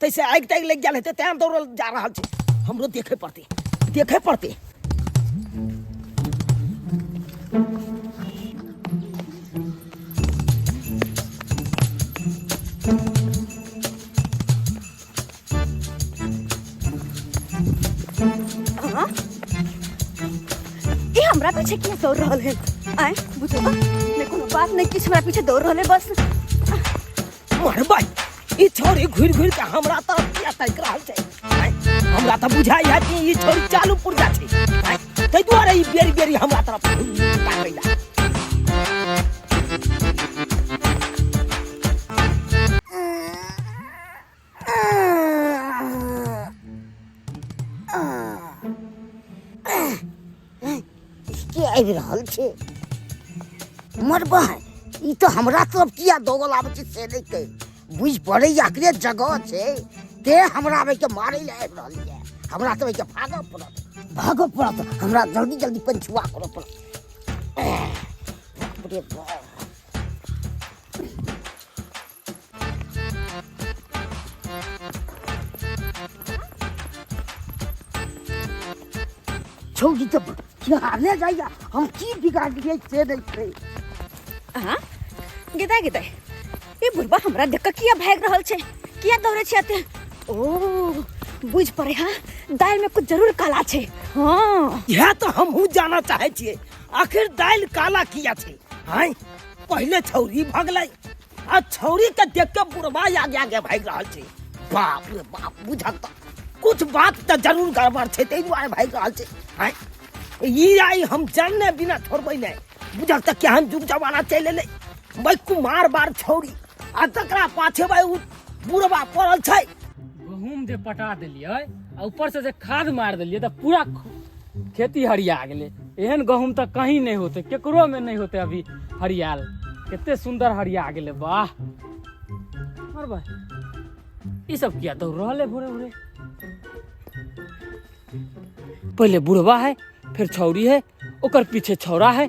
तैसे आगि तागि लागि गेल हेतै तेँ दौड़ल जा रहल छी हमरो देखे पड़तै देखे पड़तै हाँ? ये हमरा पीछे क्यों दौड़ रहल है आए बुझो ना मैं कोनो बात नहीं किस हमरा पीछे दौड़ रहल है बस मरबै ई छोरी घुरि घुरि के हमरा तऽ किया ताकि रहल छै आँय, हमरा तऽ बुझाइ है कि ई छोरी चालू पुर्जा छै आँय, ताहि दुआरे ई बेरी बेरी हमरा तरफ घुरि घुरि के ताकै ला के आबि रहल छै हमर बहन ई तऽ हमरा तरफ किया दौगल आबै छै से नहि कहि बुझि पड़ैए एकरे जगह छै ते हमरा आबैके मारै लए आबि रहल यए हमरा तऽ आबैके भागऽ पड़त भागऽ पड़त हमरा जल्दी जल्दी पंचुआ करऽ पड़त एह, बाप रे बाप। छौड़ी तऽ बिहारने जाइए हम की बिगाड़ दिए से नहीं छै अहाँ गिदाय गिदाय ई बुढ़बा हमरा देख कऽ किया भागि रहल छै किया दौड़े छै एते ओ बुझ पड़े हाँ दालि में कुछ जरूर काला छै हाँ यह तो हम हूँ जाना चाहे छे आखिर दाल काला किया छे हाय पहले छौरी भगले आ छौरी के देख के बुढ़वा आगे आगे भाग रहा छे बाप रे बाप बुझक त कुछ बात त जरूर गड़बड़ छे ते दुआरे भाग रहा छे हैं? ई आई हम जानने बिना छोड़बै नै बुझक त केहन जुग जमाना चलि एलै बै कुमार बार छौरी आ तकरा पाछे बै उ बुढ़वा पड़ल छै गहूम जे पटा देलियै आ ऊपर से जे खाद मार देलियै तऽ पूरा ख- खेती हरिया गेलै एहन गहूम तऽ कहीं नहि होतै केकरोमे नहि होतै अभी हरियाल कते सुन्दर हरिया गेलै वाह और भाई ई सब किया दौड़ रहल है भोरे भोरे पहले बुढ़वा है फिर छौरी है ओकर पीछे छौरा है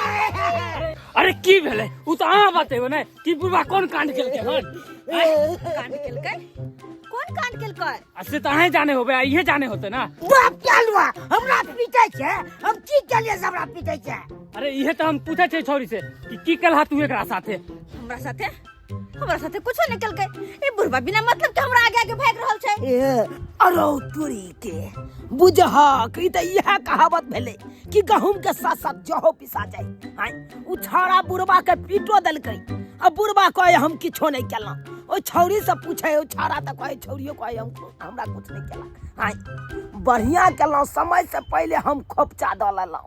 अरे की भेले उ त अहाँ बतेबो ने कि बुढ़वा कोन कांड केलकै हन कांड केलकै कोन कांड केलकै आ से त अहाँ जाने होबे आ इहे जाने होते ना बाप चालुआ हमरा पीटे छै हम की केलिए से हमरा पीटे छै अरे इहे त हम पूछे छै छौरी से कि की केलहा तू एकरा साथे हमरा साथे हमरा साथे कुछो नहीं कल गए ए बुढ़वा बिना मतलब के हमरा आगे आगे भाग रहल छै ए अरौ तुरी के बुझहा कि त यह कहावत भेले कि गहूम के साथ साथ जहो पिसा जाए हाय उ छौड़ा बुढ़वा के पीटो देलकै आ बुढ़वा कहे हम किछो नहीं केलौं ओ छौड़ी से पूछे ओ छौड़ा त कहे छौड़ियो कहे हम हमरा कुछ नहीं केलक हाय बढ़िया केलौं समय से पहले हम खोपचा दऽ लेलौं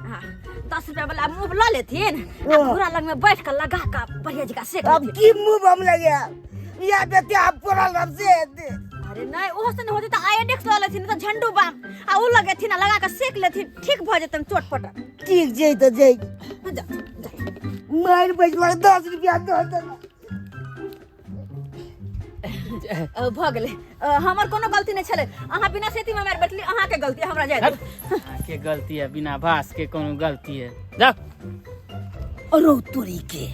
हाँ, दस रुपया वाला मुंह ला लेथिन आ हाँ। घोड़ा लग में बैठ कर लगा का बढ़िया जगह सेक अब लेथिन की मुंह बम लगे या बेटे आप पूरा लग से अरे नहीं ओहो से न होते तो आयोडेक्स ला लेथिन नहीं तो झंडू बाम आ उ लगेथिन आ लगा के सेक लेथिन ठीक भ जेतन चोटपट ठीक जई तो जई जा जा मार बजवा दस रुपया दो दो अ, भऽ गेलै अ, हमर कोनो गलती नहि छलै अहाँ बिना सेती मे मारि बैठली अहाँके गलती हमरा जाय दे के गलती है बिना भास के कोनो गलती है जा अरौ तोरी के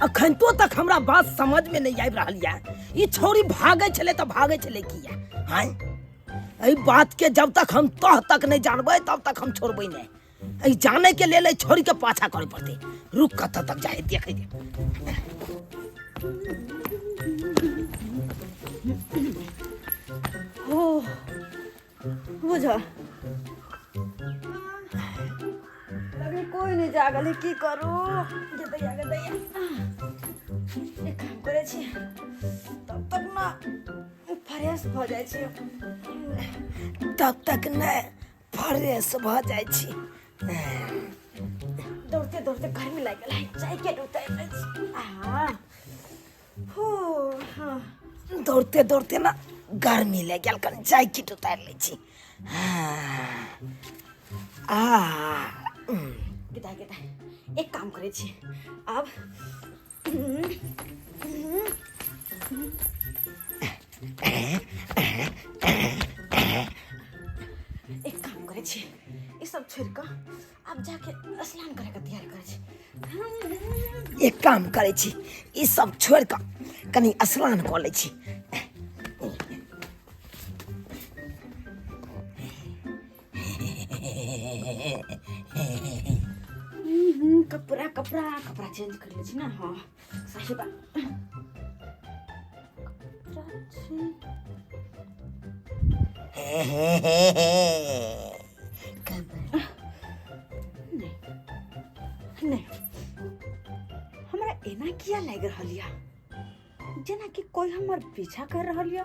अखन तो तक हमरा बात समझ में नहीं आबि रहल या ई छोरी भागे छले त भागे छले किया हाय एहि बात के जब तक हम तह तक नहीं जानबै तब तक हम छोड़बै नहीं ई जाने के लेल छोड़ के पाछा करे पड़ते रुक कत तक जाए देखे दे ओ बुझा अभी कोई नहीं जागल है की करू गदैया गदैया एक काम करे छी तब तक ना फ्रेश भ जाए छी तब तक नहीं फ्रेश भऽ जाइ छी दौड़ते दौड़ते गर्मी लागि गेल है चाय के उतारि लै छी आहा हो हाँ दौड़ते दौड़ते ना गर्मी लागि गेल कनि चाय किट उतारि लै छी हाँ। आ उम, गिदाइ गिदाइ एक काम करै छी आब एक काम करे छी ई सब छोड़ के अब जाके स्नान करे के तैयार करे छी एक काम करे छी ई सब छोड़ के कनी स्नान कऽ लै छी कपड़ा कपड़ा कपड़ा चेंज कर लै छी ने हँ सही बात कपड़ा छै। नहीं नहीं हमरा एना किया लागि रहल यऽ जेनाकि कोई हमर पीछा कर रहल यऽ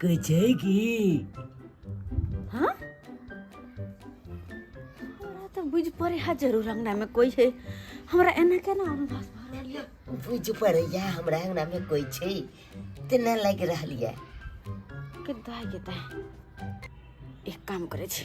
कहै छै कि हाँ हमरा तऽ बुझि पड़े है जरूर अंगना में कोई है हमरा एना केना अनुभव भऽ रहल ये? बुझि पड़ैया हमरा अंगना में कोइ छै तेना लागि रहल यऽ के दाय के दाय एक काम करे छी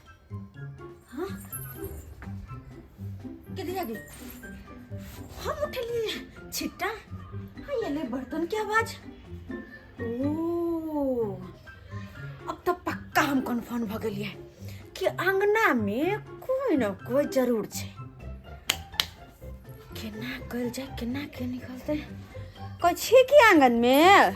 हाँ के दिया गई हम उठली छिट्टा हाँ ये ले बर्तन की आवाज ओ अब तो पक्का हम कन्फर्म भ गेलिए कि अंगना में कोई न कोई जरूर छै केना कल जाए केना के निकलते कछी की आंगन में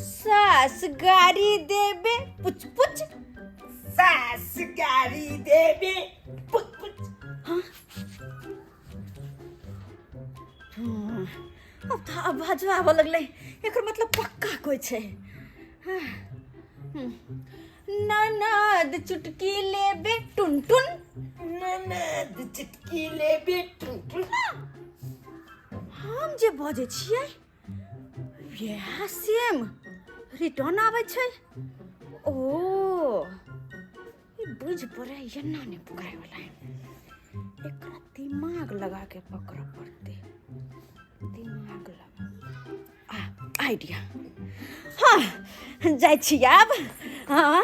सास गाड़ी देबे पुछ पुछ सास गाड़ी देबे पुछ पुछ हाँ? हाँ, अब तो आवाज आबऽ लगलै एकर मतलब पक्का कोई छै हाँ, हम्म, ननद चुटकी लेबे टुन टुन ननद चुटकी लेबे टुन टुन हम जे बजै छियै वएह सेम रिटर्न आबै छै ओ ई बुझ पड़ै एना नहि पकड़ैवला एकरा दिमाग लगा के पकड़ऽ पड़तै दिमाग लगा आइडिया हाँ जाइ छी आब हाँ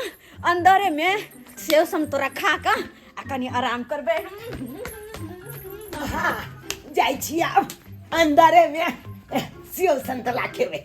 अन्दरेमे सेव समतोरा खा कऽ आ कनि आराम करबै हाँ जाइ छी आब अन्दरेमे सेव समतोला खेबै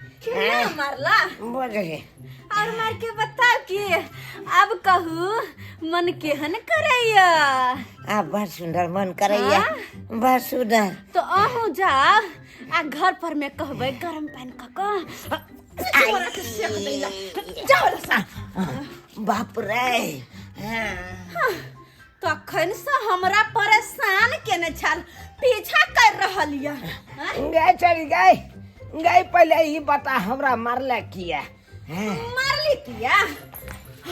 केना मारला बोल रे और मार के बताओ कि अब कहू मन केहन करैया आ बड़ सुंदर मन करैया हाँ? बड़ सुंदर तो अहू जाओ आ घर पर में कहबै गरम पानी क क तोरा के सेक दैला जाओ रे सा बाप रे हाँ। तखन से हमरा परेशान केने छल पीछा कर रहल ये हैं? गए चल गए गए पहले ही बता हमरा मारला किया हैं? मारली किया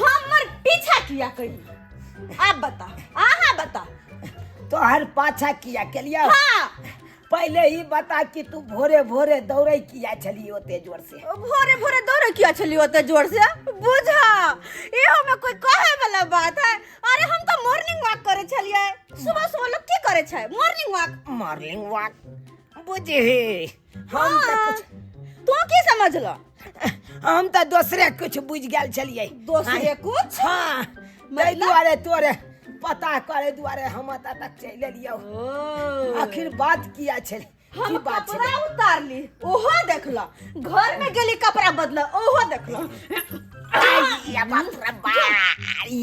हमर पीछा किया कही आप बता आहा बता तोहर पाछा किया के लिया हाँ पहिले ई बता कि तू भोरे भोरे दौड़ै किया छली ओते जोर से भोरे भोरे दौड़े किया छली ओते जोर से बुझा इहो में कोई कहे वाला बात है अरे हम तो मॉर्निंग वॉक करे छलिए सुबह सुबह लोग की करे छै मॉर्निंग वॉक मॉर्निंग वॉक बुझे हम तऽ हाँ, कुछ- तू की समझलो हम तऽ दोसरे कुछ बुझ गेल छलियै दोसरे कुछ हाँ ताहि दुआरे तोरे पता करे दुआरे हम एतऽ तक चलि एलियौ आखिर बात किया छलै हम की बात कपड़ा छलै उतारली ओहो देखला घर में गेली कपड़ा बदला ओहो देखला आइया बाप रे बारी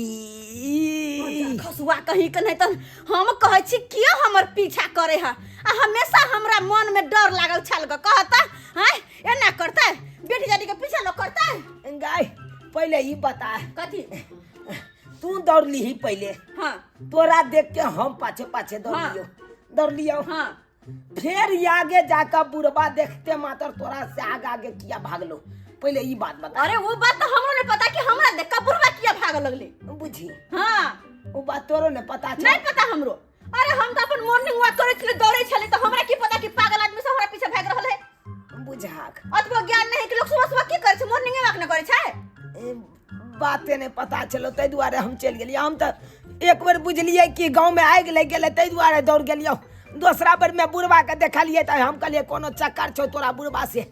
खसुआ कहीं के नहीं तो हम कहै छी किया हमर पीछा करे है आ हमेशा हमरा मन में डर लागल छल ग कहता हैं एना करते बेटी जानी के पीछे लोग करते गाय पहले ही बता कथी तू दौड़ ली ही पहले हाँ तोरा देख के हम पाछे पाछे दौड़ हाँ। लियो दौड़ लियो हाँ फिर ये आगे जाकर बुढ़वा देखते मात्र तोरा से आगे आगे किया भाग लो पहले ये बात बता अरे वो बात तो हमरो ने पता कि हमरा देख कपूरवा किया भाग लगले बुझी हाँ वो बात तोरो ने पता चल नहीं पता हमरो अरे हम तऽ अपन मॉर्निंग वॉक करै छलियै दौड़ै छलियै तऽ हमरा की पता कि पागल आदमी सब हमरा पीछे भागि रहल है बुझाक अतबो ज्ञान नहि है कि लोग सुबह सुबह की करै छै मॉर्निंग वॉक नहि करै छै ए, बाते नहि पता छलो ताहि दुआरे हम चलि गेलियै हम तऽ एक बेर बुझलियै कि गाँवमे आगि लागि गेलै ताहि दुआरे दौड़ गेलियै दोसरा बेरमे बुढ़बाके देखलियै तऽ हम कहलियै कोनो चक्कर छौ तोरा बुढ़बा से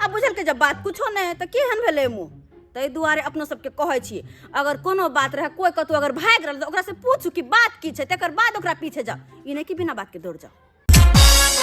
आ बुझलकै जब बात कुछो नहि है तऽ केहन भेलै मुँह ताहि दुआरे अपना सबके कहै छी अगर कोनो बात रहै कोइ कतौ अगर भागि रहल तऽ ओकरासँ पूछू कि बात की छै तकर बाद ओकरा पीछे जाउ ई नहि कि बिना बातके दौड़ जाउ